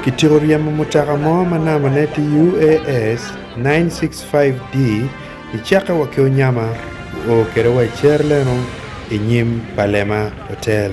Kityeko ryemo mutoka mo ma nambane tye UAS 965D i cakke wa ki Onyama, guo kwede wa i Cerleno i nyim pa Lema Hotel.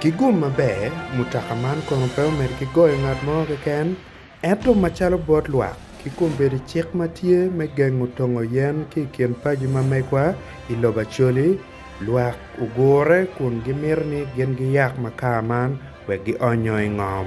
Ki gum maber, mutoka man kono pe omed ki goyo ngat mo keken, ento macalo bot lwak, ki kombeddi cik ma tye me gengo tongo yen ki i kin paci ma megwa i lobo Acholi, lwak ogure kun gimito ni gin giyak makar man wek gionyo i ngom.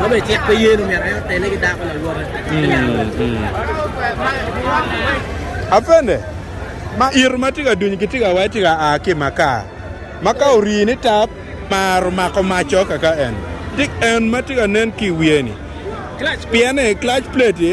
Ma bene cik pe yene omyero en otelle ki dako lawote me yalo lobo. Apende, ma ito ma tye ka duny ki tye ka wai tye ka a ki i makar, ma ka orii ni taa mar omako mac co kaka en, dik en ma tye ka nen ki i wiye-ni, pien ni clutch plate-ti,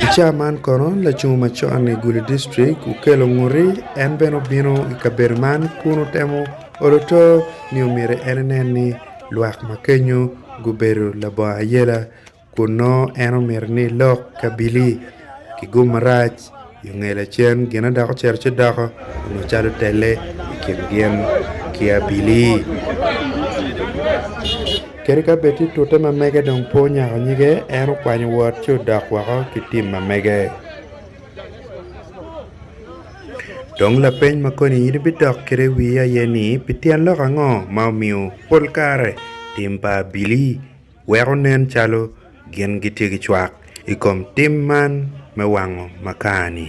I ca man kono lacung macon i gulu district okello nguti en bene obino i kabedo man kun otemo olo oto ni omyero en enen ni Lwak ma kenyo gubedo labongo ayela kun nongo en omito ni lok kabili ki gum marac i onge lacen gin na dok ocito ci doko onongo calo telle i kin gin ki abili kadi ka bed tye tute ma mege dong pe onyako nyige en okwanyo wot ci odok woko ki tim ma mege. Dong lapeny ma koni in ibidok kwede i wii aye ni, pi tyen lok ango ma omiyo pol kare tim pa abili weko nen calo gin gitye ki cwak i kom tim man me wango makar-ni?